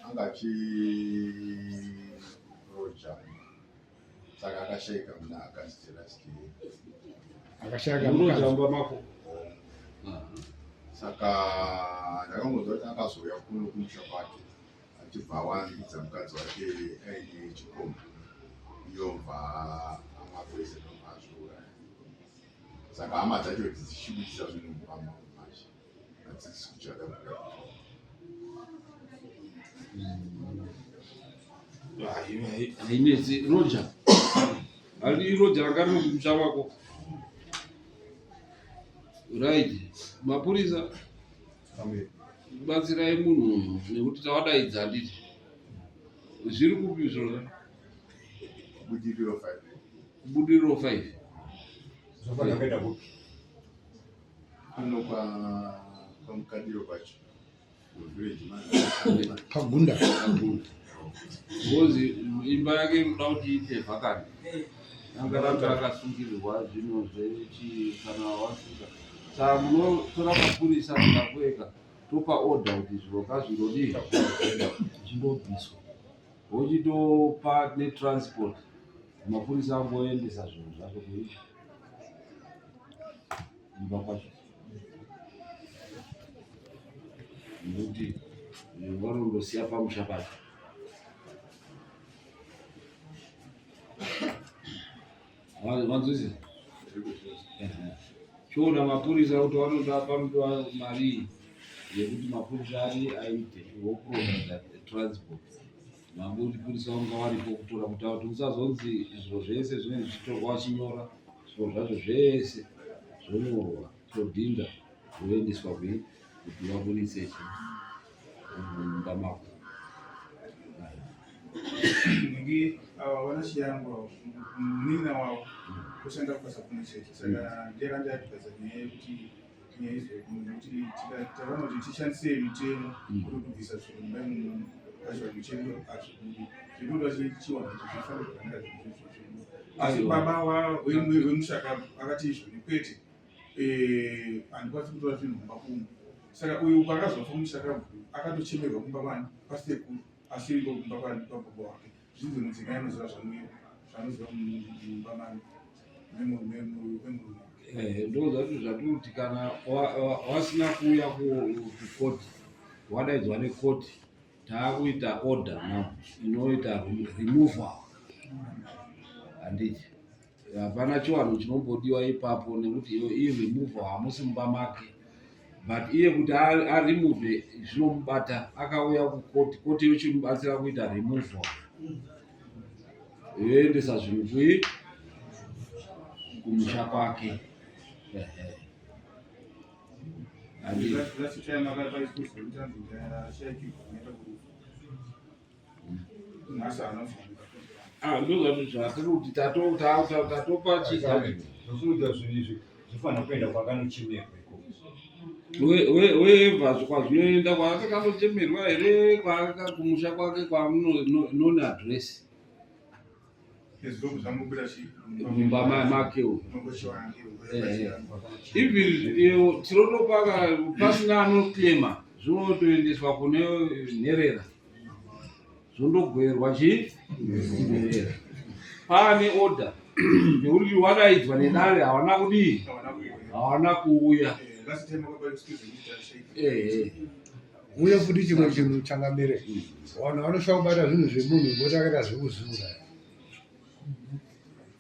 anga achiroja saka akashaika muna akaziti last year akashaika murojamba mako saka ndakangonzwa kuti akazouya kuno kumusha kwake achibva awanikidza mukadzi wake aine chikomba iyo bva amapurezidenti azviuraya saka hama dzacho dzichibudisa zvinhu mumba mavo hadzisi kuchada kugadzirwa hainetsi roja handi roja ranga riri kumusha wako right mapurisa batsirai munhu uyu nekuti tawadaidza handiti zviri kupi zvona budiriro five budiriro five zvafana kuenda kupi Kuno kwa kwa mkadiro kwacho. Village man. Pagunda. Pagunda. Ngozi imba yake inoda kuti iite vhakani. Angaramba akasungirirwa zvino zvechi kana wasvika. Saka munotora mapurisa mukakueka topa order kuti zviro kazvingodii zvindobviswa. Wochitopa netransport. Mapurisa angoendesa zvinhu zvacho kuyi imba kwacho nekuti vanondosiya pamusha pacho vanzwisi chiona mapurisa kuti vanoda panoda mari yekuti mapurisa ari aite wokuronda transport nyangwe uchipurisa unga varipo kutora kutaura kuti usazonzi zviro zvese zvinenge zvichitorwa vachinyora zviro zvacho zvese zvonyorwa todhinda zvoendeswa kwi kuti vaburitse chi mumba mako ngi ava vana chiyangu avo munin'ina wavo kushanda kubasa kumwe chete saka ndiyakandiyatidza nyaya yekuti nyaya izvo nekuti tikaona kuti tishandise mitemo mm. kuri kubvisa zvinhu mumba imomo pachivanhu chedu hazvibudi zvinoda chiwanhu kuti zvifanira kufanira zvinhu asi baba wemushaka akati izvo nekwete eh, handikwanisi kutora zvinhu mumba kumu saka uyu paakazofa mushaka akatochemerwa kumba kwani pasekuru asi iko kumba kwani pababa wake zvinzi mudzimai anoziva zvanoziva mumba mani Eh, ndozvati zvatoti kana wasina kuuya kukoti wadaidzwa nekoti taakuita order no inoita removal handiti hapana chiwanhu chinombodiwa ipapo nekuti iyi removal hamusi mumba make but iye kuti aremove zvinomubata akauya kukoti koti yochimubatsira kuita removal yoendesa zvinhu kui kumusha kwake ah, ndozvazviri kuti tatopa chii zvofanira kuenda kwakanochemerwa weva kwazvinoenda kwaakakanochemerwa here kwaakakumusha kwake kwamunoona adresi mumba make eh, even tirotopa pasina anoclaima zvinotoendeswa kune nherera zvondogoverwa chii nderera paane order nekuti wakaidzwa nedare hawana kudii hawana kuuya uye futi chimwe chinhu changamire vanhu vanosvaa kubata zvinhu zvemunhu voti akaita zvekuzura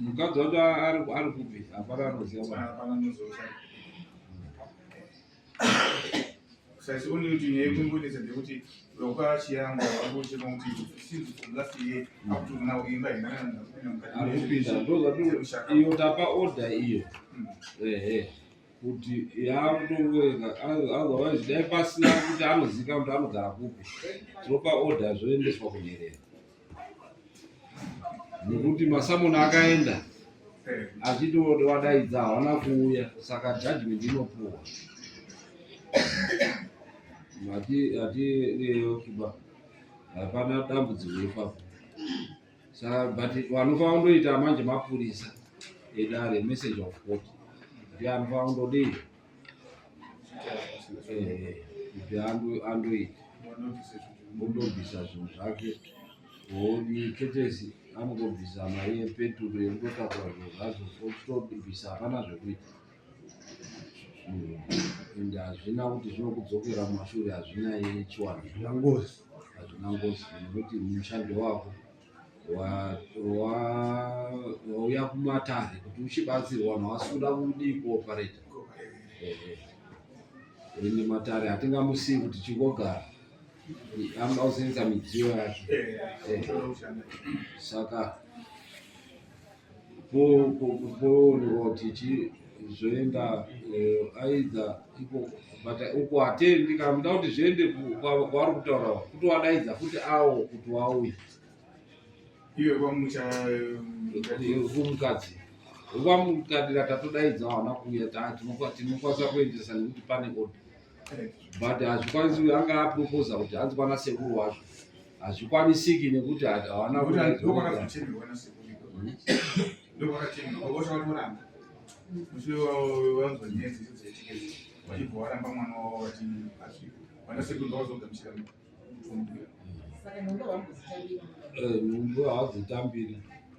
mukadzi wacho ari kupi hapana anoziva sisi only kuti nyaya yekungonetsa ndekuti vakwachiyanga vakuchema kuti since from last year up to now imba inaiyo tapa order iyo hmm. ehe kuti yakutongoenga otherwise dai pasina kuti anozika kuti anogara kupi tinopa order zvoendeswa kunyerera nekuti masamoni akaenda achiti wadaidza hawana kuuya saka judgment inopuwa mati ati leyo kiba hapana dambudziko ipapo saka but vanofanira kundoita manje mapurisa edare message of court kuti anofanira kundodii andoita mundobvisa zvinhu zvake hodi ketesi anongobvisa mari yepeturu yekundotakura zvinhu zvacho ochitobvisa hapana zvekuita and hazvina kuti zvinokudzokera mumashure hazvina yechiwani hazvina ngozi hazvina ngozi nekuti mushando wako wauya kumatare kuti uchibatsirwa vanhu havasikuda kudii kuopareta ende matare hatingamusii kuti chingogara anoda kusenza midziyo yake saka poonoti chii zvoenda eh, aidza iko but uko hatendi kana muda kuti zviende kwavari kutaura kuti wadaidza futi awo kuti wauye iwe kwamuchamukadzi eh, kwamukadira tatodaidza wana kuuya tinokwanisa kuendesa nekuti pane oda but hazvikwanisi anga aproposa kuti hanzi kwana sekuru wacho hazvikwanisiki nekuti havana nhumbu hawadzitambiri